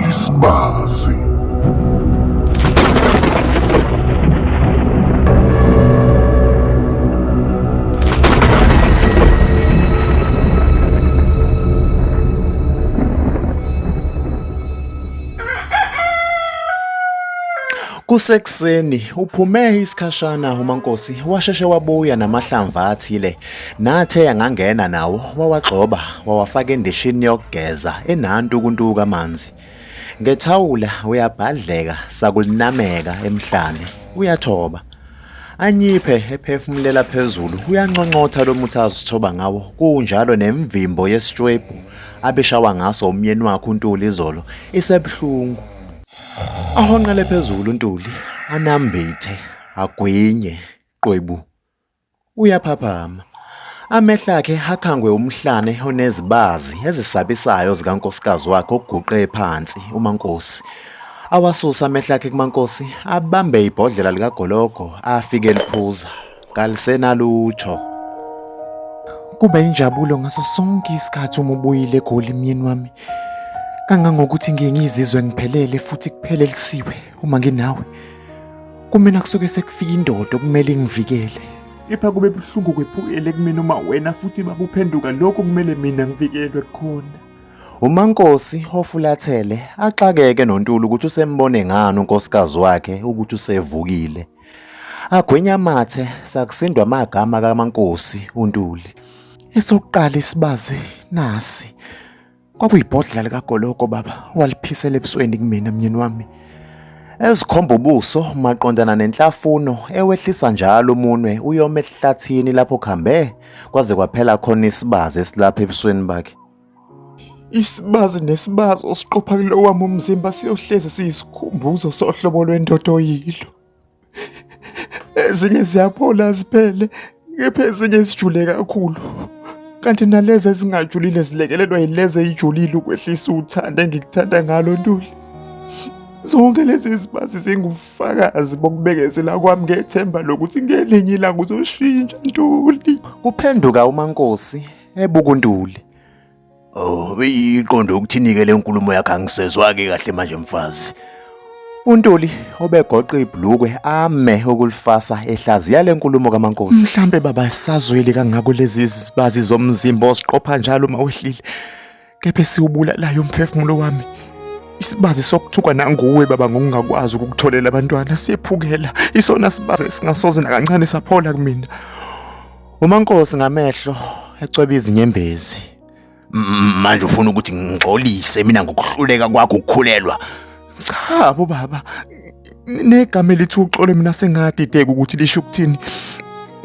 Isbazi. Kusekuseni uphume isikhashana uMankosi washeshe wabuya namahlamvu athile Nathe ngangena nawo wawagxoba wawafaka endishini yokugeza enantu ukuntuka amanzi. Ngethawula uyabhadleka sakulinameka emhlane uyathoba. Anyiphe ephefumulela phezulu uyanconcotha lo muthi azithoba ngawo kunjalo nemvimbo yesitshwebhu abeshawa ngaso umyeni wakhe uNtuli izolo isebuhlungu. Ahonqele phezulu uNtuli anambithe agwinye qwebu. Uyaphaphama. Amehlo akhe ehakhangwe umhlane onezibazi ezisabisayo zikankosikazi wakhe oguqe phansi uMankosi. Awasusa amehlo akhe kuMankosi abambe ibhodlela likagologo afike liphuza. Kalisenalutho. Kuba injabulo ngaso sonke isikhathi uma ubuyile eGoli myeni wami. Kangangokuthi ngiye ngizizwe ngiphelele futhi kuphelelisiwe. Uma nginawe kumina kusuke sekufika indoda okumele ingivikele. Kepha kube buhlungu kwephukele kumina uma wena futhi bakuphenduka lokho kumele mina ngivikelwe khona. UMankosi ofulathele axakeke noNtuli ukuthi usembone ngani unkosikazi wakhe ukuthi usevukile. Agwenya amathe sakusindwa amagama kaMankosi uNtuli. Esokuqala isibazi nasi Kwakuyibhodlela likagologo baba, waliphisela ebusweni kumina myeni wami. Ezikhomba ubuso maqondana nenhlafuno ewehlisa njalo umunwe uyoma esihlathini lapho khambe kwaze kwaphela khona isibazi esilapha ebusweni bakhe. Isibazi nesibazi osiqopha kulo wami umzimba siyohlezi siyisikhumbuzo sohlobo lwendoda oyilo. ezinye ziyaphola ziphele kepha ezinye zijule kakhulu kanti nalezi ezingajulile zilekelelwa yilezi eyijulile ukwehlisa uthanda engikuthanda ngalo ntuli zonke lezi zibazi zingubufakazi bokubekezela kwami ngethemba lokuthi ngelinye ilanga uzoshintsha ntuli kuphenduka umankosi ebukuntuli Oh, beyiqonde ukuthinike le nkulumo yakhe angisezwake kahle manje mfazi. UNtuli obegoqa ibhlukwe ame ukulifasa ehlaziya le nkulumo kaMankosi. Mhlambe baba sazweli kangako lezi zibazi zomzimba osiqopha njalo uma wehlile. Kepha siwubulalayo umphefumulo wami. Isibazi sokuthukwa nanguwe baba ngokungakwazi ukukutholela abantwana siyephukela. Isona sibazi esingasoze nakancane saphola kumina. UMankosi ngamehlo ecweba izinyembezi. Manje ufuna ukuthi ngixolise mina ngokuhluleka kwakho ukukhulelwa. Cha bo baba, negama elithi uxole mina sengadideka ukuthi lisho ukuthini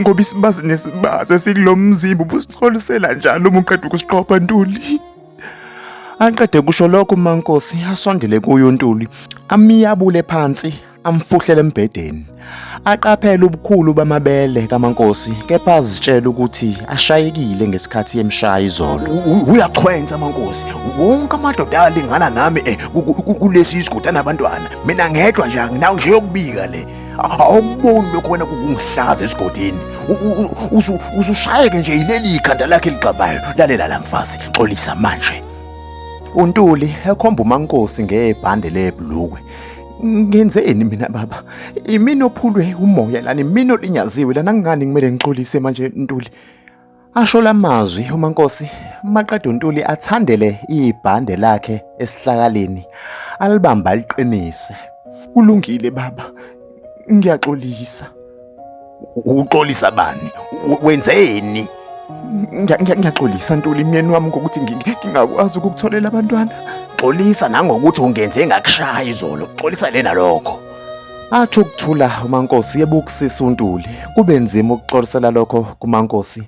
ngoba isibazi nesibazi esikulo mzimba ubusixolisela njalo uma uqeda ukusiqopha ntuli aqede kusho lokho umankosi asondele kuyo untuli amiyabule phansi amfuhlele embhedeni aqaphele ubukhulu bamabele kamankosi kepha azitshela ukuthi ashayekile ngesikhathi emshaya izolo uyachwensa amankosi wonke amadoda alingana nami eh, kulesi isigoda nabantwana mina ngedwa nje anginawo nje yokubika le awuboni lokho wena kungihlaza esigodini usushayeke nje yileli khanda lakhe ligxabayo lalela la mfazi xolisa manje untuli ekhomba umankosi ngebhande lebhlukwe Ngenzeni mina baba? Imina ophulwe umoya lana, imina olinyaziwe lana ngani kumele ngixolise manje Ntuli? Asho lamazwi uMankosi maqeda uNtuli athandele ibhande lakhe esihlakaleni alibamba liqinise. Kulungile baba, ngiyaxolisa. uxolisa bani wenzeni ngiyaxolisa ntuli myeni wami ngokuthi ngingakwazi ukukutholela abantwana xolisa nangokuthi ungenze ngakushaya izolo xolisa lena lokho athi ukuthula umankosi yebo ukusisa untuli kube nzima ukuxolisela lokho kumankosi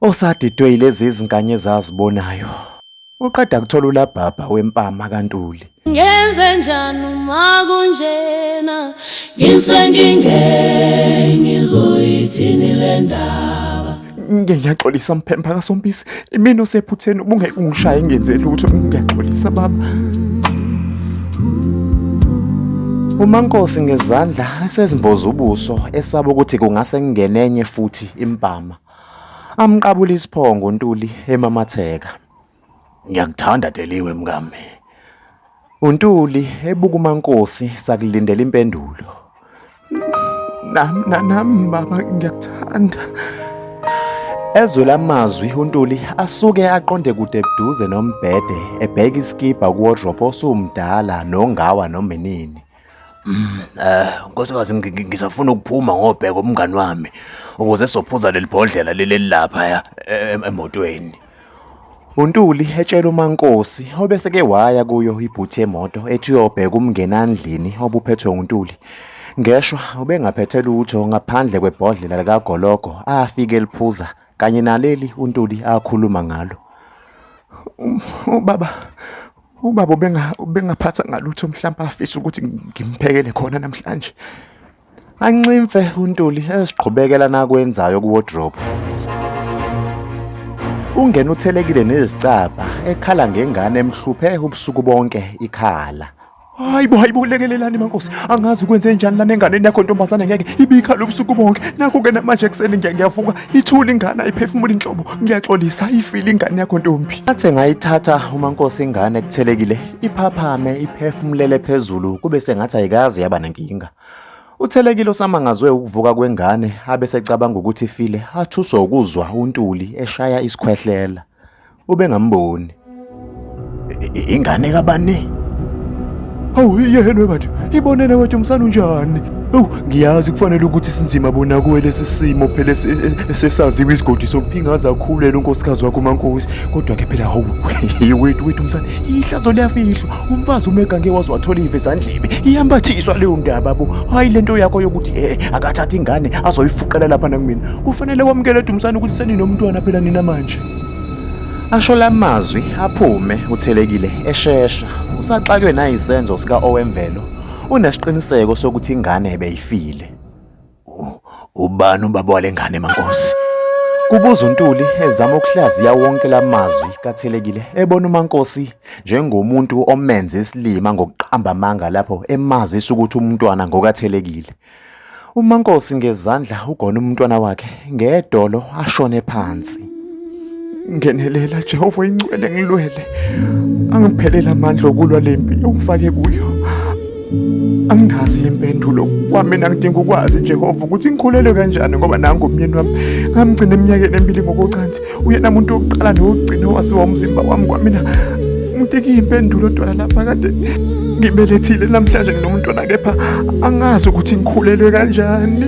osadidwe yilezi izinganye ezazibonayo uqeda kuthola ulabhabha wempama kaNtuli ngenze njani uma kunjena ngisengingeke ngizoyithini le ndaba ngiyaxolisa mphempha kasompisi imina osephutheni ubungeke ungishaye ngenze lutho ngiyaxolisa baba umankosi ngezandla esezimboza ubuso esaba ukuthi kungase kungenenye futhi impama Amqabula isiphongo uNtuli emamatheka. Ngiyakuthanda Deliwe mkami. UNtuli ebuka uMankosi sakulindela impendulo. Nam nanam baba ngiyakuthanda. Ezwe lamazwi uNtuli asuke aqonde kude buduze nombhede ebheka iskipa kuwardrobe osumdala nongawa nomenini. Mm, eh nkosikazi ngi- ngisafuna ukuphuma ngobheka umngani wami ukuze sophuza leli bhodlela leli lapha ya e- em- emotweni. UNtuli etshela uMankosi obese ke waya kuyo ibhuthi yemoto ethi uyobheka umngenandlini obuphethwe uNtuli. Ngeshwa ubengaphethe lutho ngaphandle kwebhodlela likagologo afike liphuza kanye naleli uNtuli akhuluma ngalo. Ubaba Ubaba ubengaphatha ngalutho mhlawumbe afisa ukuthi ngimphekele khona namhlanje. Anximfe uNtuli eziqhubekela nakwenzayo kuwardrobe. Ungena uthelekile nezicabha ekhala ngengane emhluphe ubusuku bonke ikhala. Hayibo hayibo lekelelani mankosi angazi ukwenze njani lana enganeni yakho ntombazane ngeke ibikhala ubusuku bonke nakho ke namanje ekuseni ngiyavuka ithula ingane ayiphefumula inhlobo ngiyaxolisa ayifile ingane yakho ntombi athe ngayithatha uma nkosi ingane kuthelekile iphaphame iphefumulele phezulu kube sengathi ayikazi yaba nenkinga uthelekile usamangazwe ukuvuka kwengane abesecabanga ukuthi ifile athuswe ukuzwa untuli eshaya isikhwehlela ubengamboni ingane kabani awu yena bantu ibonene wethu umsana unjani Ewu ngiyazi kufanele ukuthi sinzima bona kuwe lesi simo phela sesaziwa isigodi sokuphingaza akhulele unkosikazi wakho umankosi kodwa-ke phela hawu wethu wethu msana ihlazo liyafihlwa umfazi uma egange waze wathola ive zandlebe iyambathiswa leyo ndaba bo hhayi le nto yakho yokuthi e akathathe ingane azoyifuqela lapha nakumina kufanele wamukele dumsana ukuthi seninomntwana phela nina manje Asho lamazwi aphume uthelekile eshesha usaxakwe nayisenzo sika owemvelo unesiqiniseko sokuthi ingane ebeyifile. Ubani ubaba walengane mankosi? Kubuza uNtuli ezama ukuhlaziya wonke lamazwi kathelekile ebona uMankosi njengomuntu omenze isilima ngokuqamba amanga lapho emazisa ukuthi umntwana ngokathelekile. umankosi ngezandla ugona umntwana wakhe ngedolo ashone phansi ngenelela jehova ingcwele ngilwele angiphelele amandla okulwa le mpi okufake kuyo anginazi impendulo kwami nangidinga ukwazi jehova ukuthi ngikhulelwe kanjani ngoba nangu umyeni wami ngamgcina eminyakeni emibili ngokocansi uyena muntu wokuqala nowokugcina owaziwa umzimba wami kwamina muteki impendulo dwala lapha kade ngibelethile namhlanje nginomntwana kepha angazi ukuthi ngikhulelwe kanjani